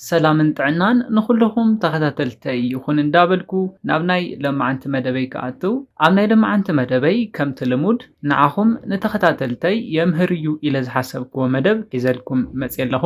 ሰላምን ጥዕናን ንኹሉኹም ተኸታተልተይ ይኹን እንዳበልኩ ናብ ናይ ለማዓንቲ መደበይ ክኣትው ኣብ ናይ ለማዓንቲ መደበይ ከምቲ ልሙድ ንዓኹም ንተኸታተልተይ የምህር እዩ ኢለ ዝሓሰብክዎ መደብ ሒዘልኩም መጽየ ኣለኹ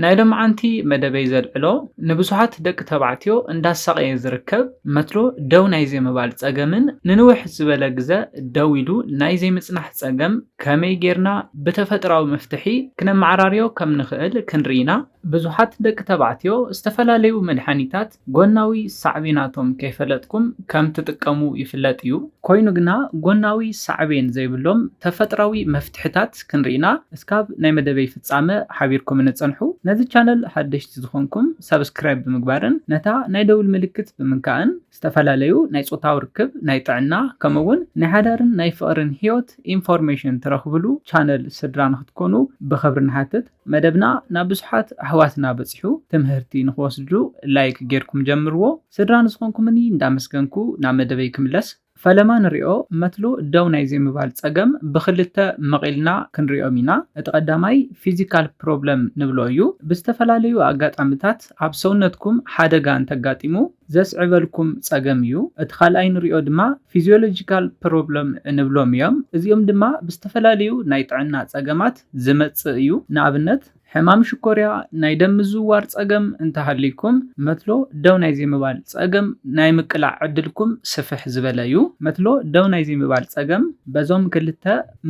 ናይ ለማዓንቲ መደበይ ዘልዕሎ ንብዙሓት ደቂ ተባዕትዮ እንዳሳቐየ ዝርከብ መትሎ ደው ናይ ዘይምባል ጸገምን ንንውሕ ዝበለ ግዘ ደው ኢሉ ናይ ዘይምጽናሕ ጸገም ከመይ ጌርና ብተፈጥራዊ መፍትሒ ክነማዓራርዮ ከም ንኽእል ክንርኢ ኢና ብዙሓት ደቂ ተባዕትዮ ዝተፈላለዩ መድሓኒታት ጎናዊ ሳዕቤናቶም ከይፈለጥኩም ከም ትጥቀሙ ይፍለጥ እዩ። ኮይኑ ግና ጎናዊ ሳዕቤን ዘይብሎም ተፈጥራዊ መፍትሕታት ክንሪኢና እስካብ ናይ መደበይ ፍጻመ ሓቢርኩምኒ ጽንሑ። ነዚ ቻነል ሓደሽቲ ዝኾንኩም ሳብስክራይብ ብምግባርን ነታ ናይ ደውል ምልክት ብምንካእን ዝተፈላለዩ ናይ ጾታዊ ርክብ፣ ናይ ጥዕና ከምኡ ውን ናይ ሓዳርን ናይ ፍቕርን ህይወት ኢንፎርሜሽን ትረኽብሉ ቻነል ስድራ ንክትኮኑ ብኽብሪ ንሓትት። መደብና ናብ ብዙሓት ኣሕዋትና በጺሑ ትምህርቲ ንኽወስድሉ ላይክ ጌርኩም ጀምርዎ ስድራ ንዝኾንኩምኒ እንዳመስገንኩ ናብ መደበይ ክምለስ ፈለማ ንሪኦ መትሎ ደው ናይ ዘይምባል ጸገም ብኽልተ መቒልና ክንሪኦም ኢና እቲ ቀዳማይ ፊዚካል ፕሮብለም ንብሎ እዩ ብዝተፈላለዩ ኣጋጣምታት ኣብ ሰውነትኩም ሓደጋ እንተጋጢሙ ዘስዕበልኩም ጸገም እዩ። እቲ ካልኣይ ንሪኦ ድማ ፊዚዮሎጂካል ፕሮብሎም እንብሎም እዮም። እዚኦም ድማ ብዝተፈላለዩ ናይ ጥዕና ጸገማት ዝመጽእ እዩ። ንኣብነት ሕማም ሽኮርያ፣ ናይ ደም ምዝውዋር ጸገም እንተሃልይኩም መትሎ ደው ናይ ዘይምባል ጸገም ናይ ምቅላዕ ዕድልኩም ስፍሕ ዝበለ እዩ። መትሎ ደው ናይ ዘይምባል ጸገም በዞም ክልተ።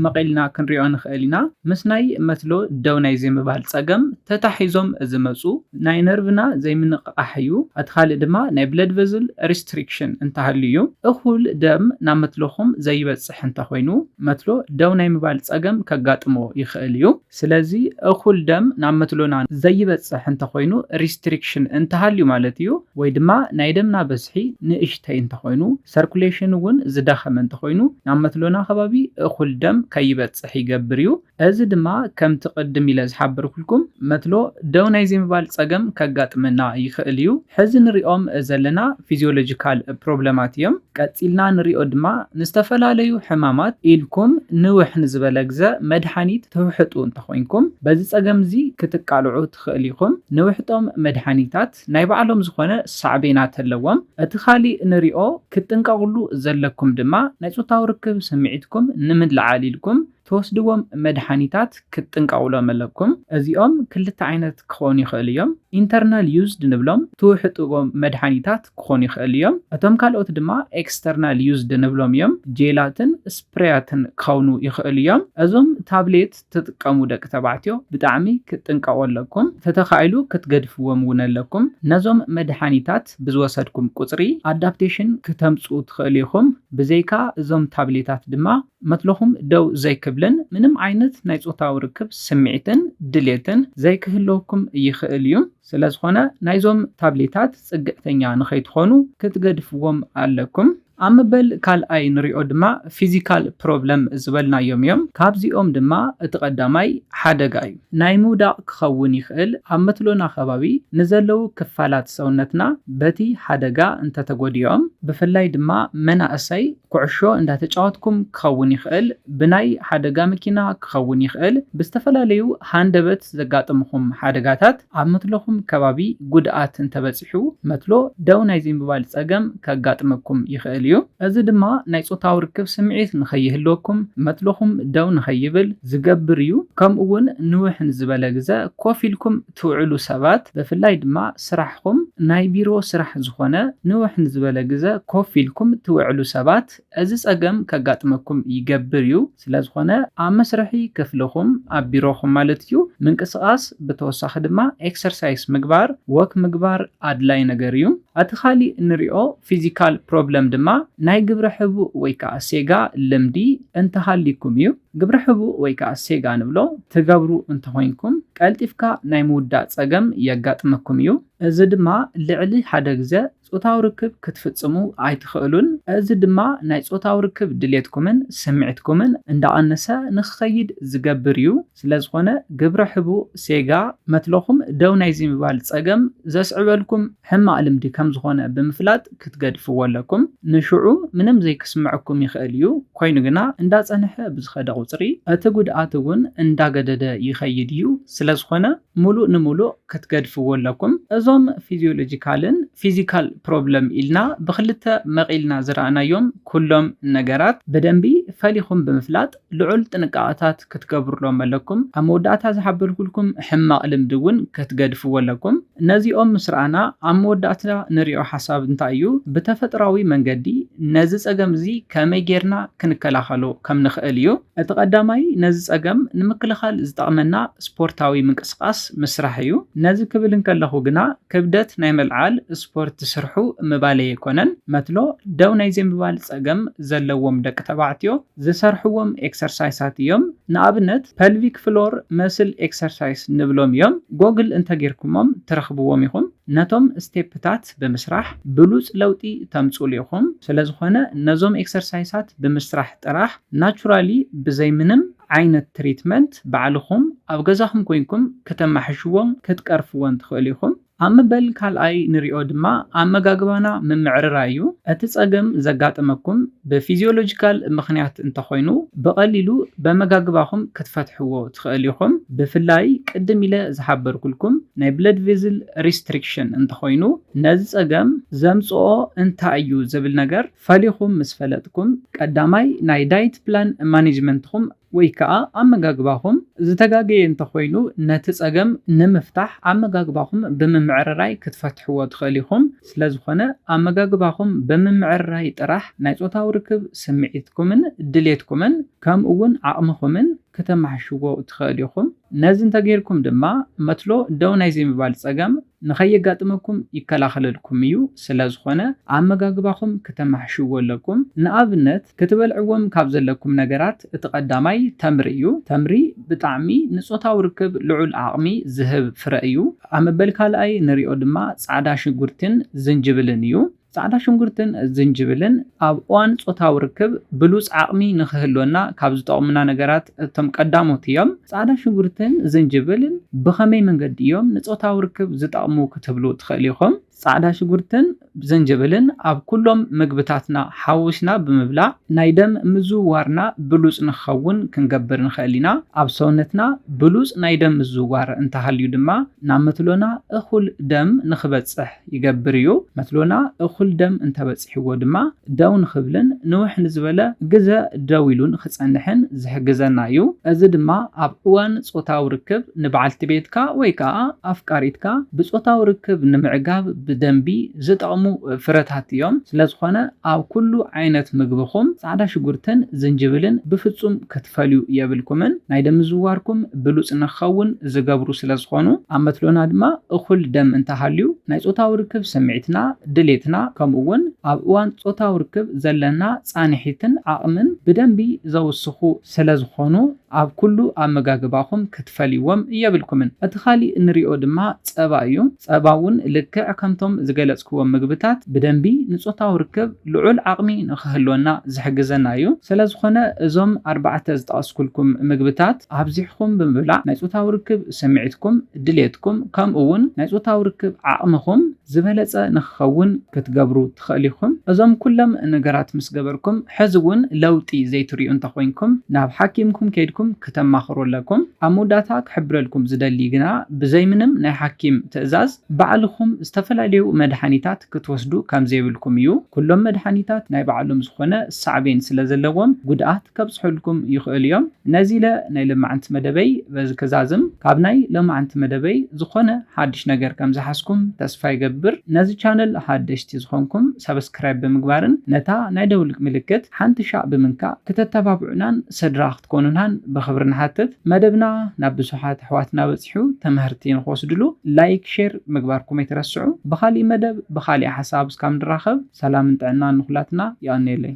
መቒልና ክንሪኦ ንኽእል ኢና። ምስ ናይ መትሎ ደው ናይ ዘይምባል ጸገም ተታሒዞም ዝመጹ ናይ ነርቭና ዘይምንቕቓሕ እዩ። እቲ ካልእ ድማ ናይ ብለድ ቨዝል ሪስትሪክሽን እንተሃልዩ እዩ። እኹል ደም ናብ መትሎኹም ዘይበጽሕ እንተኾይኑ መትሎ ደው ናይ ምባል ጸገም ከጋጥሞ ይኽእል እዩ። ስለዚ እኹል ደም ናብ መትሎና ዘይበጽሕ እንተኾይኑ ሪስትሪክሽን እንተሃልዩ ማለት እዩ። ወይ ድማ ናይ ደምና በዝሒ ንእሽተይ እንተኾይኑ። ሰርኩሌሽን እውን ዝዳኸመ እንተኾይኑ ናብ መትሎና ከባቢ እኹል ደም ከይበፅሕ ይገብር እዩ። እዚ ድማ ከምቲ ቅድም ኢለ ዝሓበርኩልኩም መትሎ ደው ናይ ዘይምባል ፀገም ከጋጥመና ይኽእል እዩ። ሕዚ ንሪኦም ዘለና ፊዚዮሎጂካል ፕሮብለማት እዮም። ቀፂልና ንሪኦ ድማ ንዝተፈላለዩ ሕማማት ኢልኩም ንውሕ ንዝበለ ግዘ መድሓኒት ትውሕጡ እንተኾይንኩም በዚ ፀገም እዚ ክትቃልዑ ትኽእሉ ኢኹም። ንውሕጦም መድሓኒታት። ናይ ባዕሎም ዝኾነ ሳዕቤናት ኣለዎም። እቲ ኻሊእ ንሪኦ ክትጥንቀቕሉ ዘለኩም ድማ ናይ ፆታዊ ርክብ ስምዒትኩም ንምልዓል ኢልኩም ትወስድዎም መድሓኒታት ክትጥንቀቕሎም ኣለኩም። እዚኦም ክልተ ዓይነት ክኾኑ ይኽእሉ እዮም። ኢንተርናል ዩዝ ድንብሎም ትውሕጥዎም መድሓኒታት ክኾኑ ይኽእሉ እዮም። እቶም ካልኦት ድማ ኤክስተርናል ዩዝ ድንብሎም እዮም። ጄላትን ስፕሬያትን ክኸውኑ ይኽእሉ እዮም። እዞም ታብሌት፣ ትጥቀሙ ደቂ ተባዕትዮ ብጣዕሚ ክትጥንቀቁ ኣለኩም ተተካኢሉ ክትገድፍዎም እውን ኣለኩም ነዞም መድሓኒታት ብዝወሰድኩም ቁፅሪ ኣዳፕቴሽን ክተምፅኡ ትክእሉ ኢኩም ብዘይካ እዞም ታብሌታት ድማ መትሎኩም ደው ዘይክብልን ምንም ዓይነት ናይ ፆታዊ ርክብ ስምዒትን ድሌትን ዘይክህልወኩም ይክእል እዩ ስለዝኮነ ናይዞም ታብሌታት ፅግዕተኛ ንከይትኮኑ ክትገድፍዎም ኣለኩም። ኣብ መበል ካልኣይ ንሪኦ ድማ ፊዚካል ፕሮብለም ዝበልናዮም እዮም። ካብዚኦም ድማ እቲ ቀዳማይ ሓደጋ እዩ። ናይ ምውዳቕ ክኸውን ይኽእል፣ ኣብ መትሎና ከባቢ ንዘለዉ ክፋላት ሰውነትና በቲ ሓደጋ እንተተጎዲኦም፣ ብፍላይ ድማ መናእሰይ ኩዕሾ እንዳተጫወትኩም ክኸውን ይኽእል፣ ብናይ ሓደጋ መኪና ክኸውን ይኽእል፣ ብዝተፈላለዩ ሃንደበት ዘጋጥምኹም ሓደጋታት ኣብ መትሎኹም ከባቢ ጉድኣት እንተበፂሑ። ክትበጽሑ መትሎ ደው ናይ ዘይምባል ጸገም ከጋጥመኩም ይኽእል እዩ። እዚ ድማ ናይ ጾታዊ ርክብ ስምዒት ንኸይህልወኩም፣ መትሎኹም ደው ንኸይብል፣ ዝገብር እዩ። ከምኡ'ውን ንውሕ ንዝበለ ግዘ ኮፍ ኢልኩም ትውዕሉ ሰባት፣ ብፍላይ ድማ ስራሕኹም ናይ ቢሮ ስራሕ ዝኾነ ንውሕ ንዝበለ ግዘ ኮፍ ኢልኩም ትውዕሉ ሰባት፣ እዚ ጸገም ከጋጥመኩም ይገብር እዩ፣ ስለዝኾነ ኣብ መስርሒ ክፍልኹም፣ ኣብ ቢሮኹም ማለት እዩ፣ ምንቅስቓስ ብተወሳኺ ድማ ኤክሰርሳይስ ምግባር፣ ወክ ምግባር ኣድላይ ነገር እዩ። እቲ ካሊእ እንሪኦ ፊዚካል ፕሮብለም ድማ ናይ ግብረ ሕቡእ ወይ ከዓ ሴጋ ልምዲ እንተሃልይኩም እዩ። ግብረ ሕቡእ ወይ ከዓ ሴጋ ንብሎ ትገብሩ እንተኾይንኩም ቀልጢፍካ ናይ ምውዳእ ጸገም የጋጥመኩም እዩ። እዚ ድማ ልዕሊ ሓደ ግዘ ጾታዊ ርክብ ክትፍጽሙ ኣይትኽእሉን፣ እዚ ድማ ናይ ጾታዊ ርክብ ድሌትኩምን ስምዒትኩምን እንዳቐነሰ ንኽኸይድ ዝገብር እዩ። ስለዝኾነ ግብረ ሕቡእ፣ ሴጋ፣ መትሎኹም ደው ናይዚ ምባል ጸገም ዘስዕበልኩም ሕማቕ ልምዲ ከምዝኾነ ብምፍላጥ ክትገድፍዎ ኣለኩም። ንሽዑ ምንም ዘይክስመዐኩም ይኽእል እዩ፣ ኮይኑ ግና እንዳጸንሐ ብዝኸደ ቁጽሪ እቲ ጉድኣት እውን እንዳገደደ ይኸይድ እዩ። ስለዝኾነ። ሙሉእ ንሙሉእ ክትገድፍዎ ኣለኩም። እዞም ፊዚዮሎጂካልን ፊዚካል ፕሮብለም ኢልና ብኽልተ መቒልና ዝረኣናዮም ኩሎም ነገራት ብደንቢ ፈሊኹም ብምፍላጥ ልዑል ጥንቃቐታት ክትገብሩሎም ኣለኩም። ኣብ መወዳእታ ዝሓበርኩልኩም ሕማቕ ልምዲ እውን ክትገድፍዎ ኣለኩም። ነዚኦም ምስ ረኣና ኣብ መወዳእታ ንሪኦ ሓሳብ እንታይ እዩ? ብተፈጥሮኣዊ መንገዲ ነዚ ፀገም እዚ ከመይ ገይርና ክንከላኸሎ ከም ንኽእል እዩ። እቲ ቀዳማይ ነዚ ጸገም ንምክልኻል ዝጠቕመና ስፖርታዊ ምንቅስቓስ ምስራሕ እዩ። ነዚ ክብል እንከለኹ ግና ክብደት ናይ ምልዓል ስፖርት ስርሑ ምባለይ ኣይኮነን። መትሎ ደው ናይ ዘይምባል ጸገም ዘለዎም ደቂ ተባዕትዮ ዝሰርሕዎም ኤክሰርሳይሳት እዮም። ንኣብነት ፐልቪክ ፍሎር መስል ኤክሰርሳይስ ንብሎም እዮም። ጎግል እንተጌርኩሞም ትረኽብዎም ኢኹም። ነቶም ስቴፕታት ብምስራሕ ብሉጽ ለውጢ ተምጽእሉ ኢኹም። ስለዝኾነ ነዞም ኤክሰርሳይሳት ብምስራሕ ጥራሕ ናቹራሊ ብዘይ ምንም ዓይነት ትሪትመንት ባዕልኹም ኣብ ገዛኹም ኮይንኩም ክተማሕሽዎን ክትቀርፍዎን ትኽእሉ ኢኹም። ኣብ መበል ካልኣይ ንሪኦ ድማ ኣመጋግባና ምምዕርራይ እዩ። እቲ ፀገም ዘጋጠመኩም ብፊዚዮሎጂካል ምኽንያት እንተኾይኑ ብቐሊሉ በመጋግባኹም ክትፈትሕዎ ትኽእሉ ኢኹም። ብፍላይ ቅድም ኢለ ዝሓበርኩልኩም ናይ ብለድ ቬዝል ሪስትሪክሽን እንተኾይኑ ነዚ ፀገም ዘምፅኦ እንታይ እዩ ዝብል ነገር ፈሊኹም ምስ ፈለጥኩም፣ ቀዳማይ ናይ ዳይት ፕላን ማኔጅመንትኹም ወይ ከኣ ኣመጋግባኹም ዝተጋገየ እንተኾይኑ ነቲ ጸገም ንምፍታሕ ኣመጋግባኹም ብምምዕርራይ ክትፈትሕዎ ትኽእል ኢኹም። ስለዝኾነ ኣመጋግባኹም ብምምዕርራይ ጥራሕ ናይ ጾታዊ ርክብ ስምዒትኩምን ድሌትኩምን ከምኡ'ውን ዓቕምኹምን ክተማሕሽዎ ትኽእል ኢኹም። ነዚ እንተገይርኩም ድማ መትሎ ደው ናይ ዘይምባል ጸገም ንኸየጋጥመኩም ይከላኸለልኩም እዩ፣ ስለዝኾነ ኣመጋግባኹም ክተማሕሽዎ ኣለኩም፣ ንኣብነት ክትበልዕዎም ካብ ዘለኩም ነገራት እቲ ቀዳማይ ተምሪ እዩ፣ ተምሪ ብጣዕሚ ንጾታዊ ርክብ ልዑል ዓቕሚ ዝህብ ፍረ እዩ፣ ኣብ መበል ካልኣይ ንሪኦ ድማ ጻዕዳ ሽጉርቲን ዝንጅብልን እዩ። ጻዕዳ ሽንጉርትን ዝንጅብልን ኣብ እዋን ጾታዊ ርክብ ብሉጽ ዓቕሚ ንኽህልወና ካብ ዝጠቕሙና ነገራት እቶም ቀዳሞት እዮም። ጻዕዳ ሽንጉርትን ዝንጅብልን ብኸመይ መንገዲ እዮም ንጾታዊ ርክብ ዝጠቕሙ ክትብሉ ትኽእሉ ኢኹም። ጻዕዳ ሽጉርትን ዝንጅብልን ኣብ ኩሎም ምግብታትና ሓዊስና ብምብላዕ ናይ ደም ምዝውዋርና ብሉጽ ንኽኸውን ክንገብር ንኽእል ኢና። ኣብ ሰውነትና ብሉጽ ናይ ደም ምዝውዋር እንተሃልዩ ድማ ናብ መትሎና እኹል ደም ንኽበጽሕ ይገብር እዩ። መትሎና እኹል ደም እንተበጺሕዎ ድማ ደው ንኽብልን ንውሕ ንዝበለ ግዘ ደው ኢሉ ንኽጸንሕን ዝሕግዘና እዩ። እዚ ድማ ኣብ እዋን ጾታዊ ርክብ ንበዓልቲ ቤትካ ወይ ከኣ ኣፍቃሪትካ ብጾታዊ ርክብ ንምዕጋብ ብደንቢ ዝጠቕሙ ፍረታት እዮም። ስለዝኾነ ኣብ ኩሉ ዓይነት ምግብኹም ጻዕዳ ሽጉርትን ዝንጅብልን ብፍጹም ክትፈልዩ የብልኩምን። ናይ ደም ምዝውዋርኩም ብሉጽ ንክኸውን ዝገብሩ ስለ ዝኾኑ፣ ኣብ መትሎና ድማ እኹል ደም እንተ ሃልዩ፣ ናይ ጾታዊ ርክብ ስምዒትና፣ ድሌትና፣ ከምኡ'ውን ኣብ እዋን ጾታዊ ርክብ ዘለና ጻንሒትን ዓቕምን ብደንቢ ዘውስኹ ስለ ዝኾኑ፣ ኣብ ኩሉ ኣመጋግባኹም ክትፈልይዎም የብልኩምን። እቲ ካልእ ንሪኦ ድማ ጸባ እዩ። ጸባ'ውን ልክዕ ከምቶም ዝገለጽክዎም ምግብታት ብደንቢ ንጾታዊ ርክብ። ልዑል ዓቕሚ ንኽህልወና ዝሕግዘና እዩ። ስለዝኾነ እዞም ኣርባዕተ ዝጠቐስኩልኩም ምግብታት ኣብዚሕኹም ብምብላዕ ናይ ፆታዊ ርክብ ስምዒትኩም፣ ድሌትኩም ከምኡ እውን ናይ ፆታዊ ርክብ ዓቕምኹም ዝበለፀ ንኽኸውን ክትገብሩ ትኽእሉ ኢኹም። እዞም ኩሎም ነገራት ምስ ገበርኩም ሕዚ እውን ለውጢ ዘይትሪኡ እንተኾይንኩም ናብ ሓኪምኩም ከይድኩም ክተማኽሩ ኣለኩም። ኣብ መወዳእታ ክሕብረልኩም ዝደሊ ግና ብዘይምንም ናይ ሓኪም ትእዛዝ፣ ባዕልኹም ዝተፈላለዩ መድሓኒታት ክትወስዱ ከምዘይብልኩም እዩ። ኩሎም መድሓኒታት ናይ ባዕሎም ዝኾነ ሳዕቤን ስለዘለዎም ጉድኣት ከብፅሑልኩም ይኽእሉ እዮም። ነዚለ ናይ ለማዕንቲ መደበይ በዚ ክዛዝም። ካብ ናይ ለማዕንቲ መደበይ ዝኾነ ሓድሽ ነገር ከምዝሓዝኩም ተስፋ ይገብር። ነዚ ቻነል ሓደሽቲ ዝኾንኩም ሳብስክራይብ ብምግባርን ነታ ናይ ደውል ምልክት ሓንቲሻዕ ብምንካእ ክተተባብዑናን ሰድራ ክትኮኑናን ብክብሪ ንሓትት። መደብና ናብ ብዙሓት ኣሕዋትና በጺሑ ተመህርቲ ንክወስድሉ ላይክ ሼር ምግባርኩም ኣይትረስዑ። ብካሊእ መደብ ብካሊእ ሓሳብ እስካብ ንራከብ ሰላምን ጥዕናን ንኩላትና የቀንየለይ።